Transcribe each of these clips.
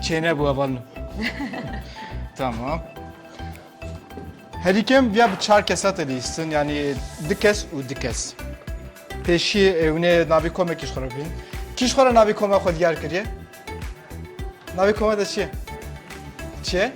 Çêne bu aval min. tamam. Herî kem ya bi çar kesa te lîstin yani di kes û di kes. Pêşî ewne navê kome kîş xwe bin. Kîş xwe navê kome xwe diyar kiriye. Navê kome de çi ye? Çi ye?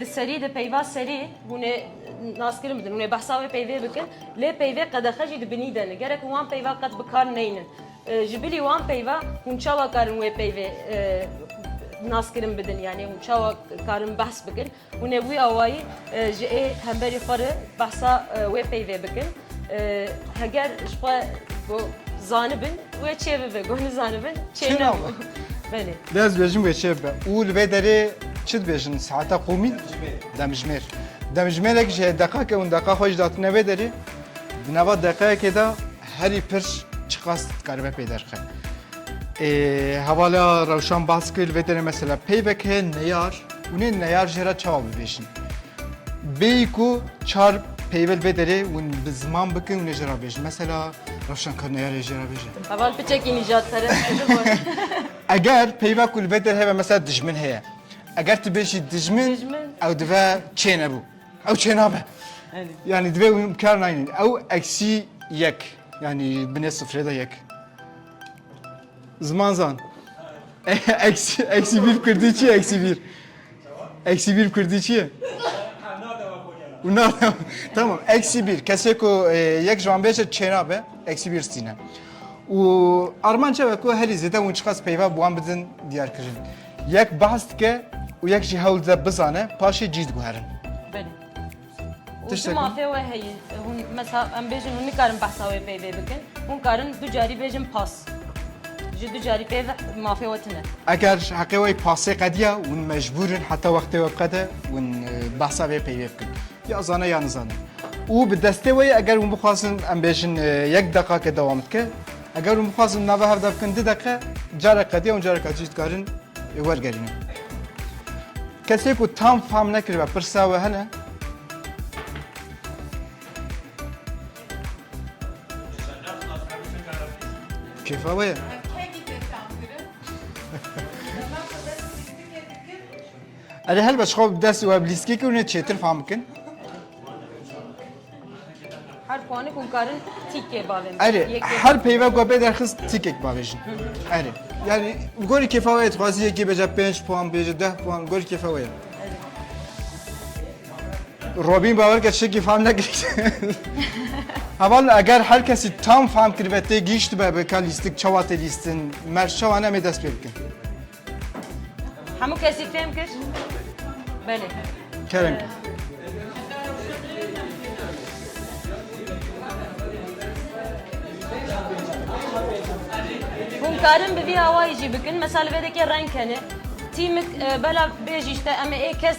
Di serî de peyva serî hûn ê naskirin bidin, hûn ê behsa wê peyvê bikin. Lê peyvê qedexe jî di binî de ne. Gerek hûn wan peyva qet bi kar neynin. Ji bilî wan peyva hûn çawa karin wê peyvê naskirin bidin yanî hûn çawa karin behs bikin. Hûn ê wî awayî ji ê hemberî xwe re behsa wê peyvê bikin. Heger ji xwe got zanibin wê çê bibe got nizanibin çê Çê nebû. nabû. Belê. Dê ez bêjim wê çê bibe. Û li vê derê çi dibêjin saeta qûmî? Demjimêr. Demjimêrek ji hê deqa ke hûn deqa xwe jî datine vê derê, di nava deqeyekê de herî pir çiqas dikaribe pê derxe. Ê hevala rewşan bas kir li vê derê mesela peyvek heye neyar, Hûn ê neyar jê re çawa bibêjin? Bêyî ku çar peyvil bê derê hûn bi ziman bikin hûn ê jê re bêjin. Mesela rewşenkar neyar ê jê re bêje. Heval piçekî nîjadperest e ji bo re. Eger peyva ku li vê derê hebe mesela dijmin heye. Eger tu bêjî dijmin Dijmin. ew dibe çê nebû. Ew çê nabe. Elî. Yanî divê hûn bi kar nayînin. Ew eksî yek yanî binê sifrê de yek. Ziman zan. Eksi, eksi bir Kürdi çi eksi bir? Eksi bir Kürdi çi? Bunlar tamam eksi bir. Kese ku e, yek ji wan bêje çêna be eksi bir stîne. û armanca ve ku herî zêde hûn çiqas peyva bi wan bidin diyar kirin. Yek behs dike û yek jî hewl dide bizane paşê cî diguherin. Belê. Tiştek Çima fê we heye? Hûn mesela em bêjin hûn nikarin behsa wê peyvê bikin. Hûn karin du carî bêjin pas. Ji du carî pê ve mafê we tune. Eger heqê we pasê qediya hûn mecbûrin heta wextê we biqede hûn e, behsa vê peyvê bikin. Ya zane ya nizane. Û bi destê we ye eger hûn bixwazin em bêjin e, yek deqake dewam dike. Eger hûn bixwazin nava hev de bikin du deqe carek qediya hûn careka cî dikarin e, wergerînin. Kesê ku tam fam nekiribe pirsa we hene? Kêfa we ye. Erê helbet xwe bi dest û ev lîstikê kir hûn ê çêtir fam bikin. Her puanê ku karin tîkê bavêjin. Erê, Yekê- her peyve ku pê derxist tîkek bavêjin. Erê. Yani li gorî kêfa wê ye dixwazî yekê bêje 5 puan bêje 10 puan li gorî kêfa wê ye. Robîn bawer ke tiştekî fam nekir. Heval eger her kesî tam fam kiribe tê gihîştibe bi ka lîstik çawa tê lîstin, merc çawa ne em ê dest pê bikin. Hemû kesî fêm kir? Belê. Kerem. Hûn karin bi vî awayî jî bikin, mesela li vê dekê reng kenê. Tîmik e, belav bêjî işte em ê ê kes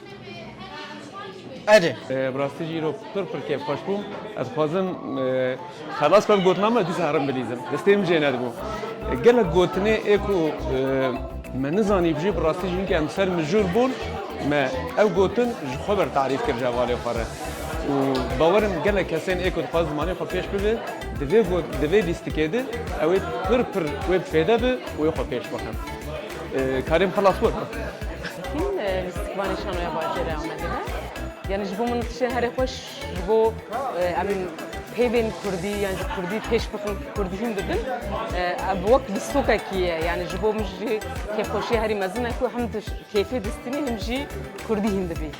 Erê. Bi rastî jî îro pir pir kêf xweş bû. Ez dixwazim xelas bibim gotina me dîsa herim bilîzim. Destê min jê nedibû. Gelek gotinê ê ku me nizanî bijî bi rastî jî em ser mijûl bûn me ew gotin ji xwe ber tarîf kir ji hevalê xwe re û bawer in gelek kesên ê ku dixwazin zimanê xwe pêş bibe di vê lîstikê de ew ê pir pir wê bi fêde be û wê xwe pêş bixin. Karim Halaswar. Sekîn li Stikvanê Şanoya Bajêrê Amedê me. Yani ji bo min tiştê herê xweş ji bo em peyvên Kurdî yan ji Kurdî pêş bixin Kurdî hîn bibin. Ev wek distokekî ye. Yani ji bo min jî kêfxweşiya herî mezin e ku hem kêfê distînî hem jî Kurdî hîn dibî.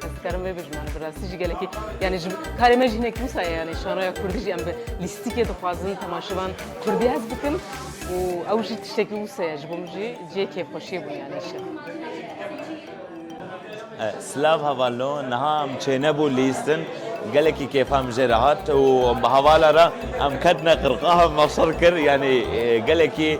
Ez dikarim vê bijim yani bi rastî jî gelekî yani ji karê me jî hinek wisa ye yani şaroya kurdî jî em bi lîstikê dixwazin temaşevan kurdî hez bikin û ew jî tiştekî wisa ye ji bo min jî cihê kêfxweşiyê bûn yani îşe. Silav hevalno niha em çênebû lîstin gelekî kêfa min jê re hat û bi hevala re em ketine qirqaha mafsal kir yani gelekî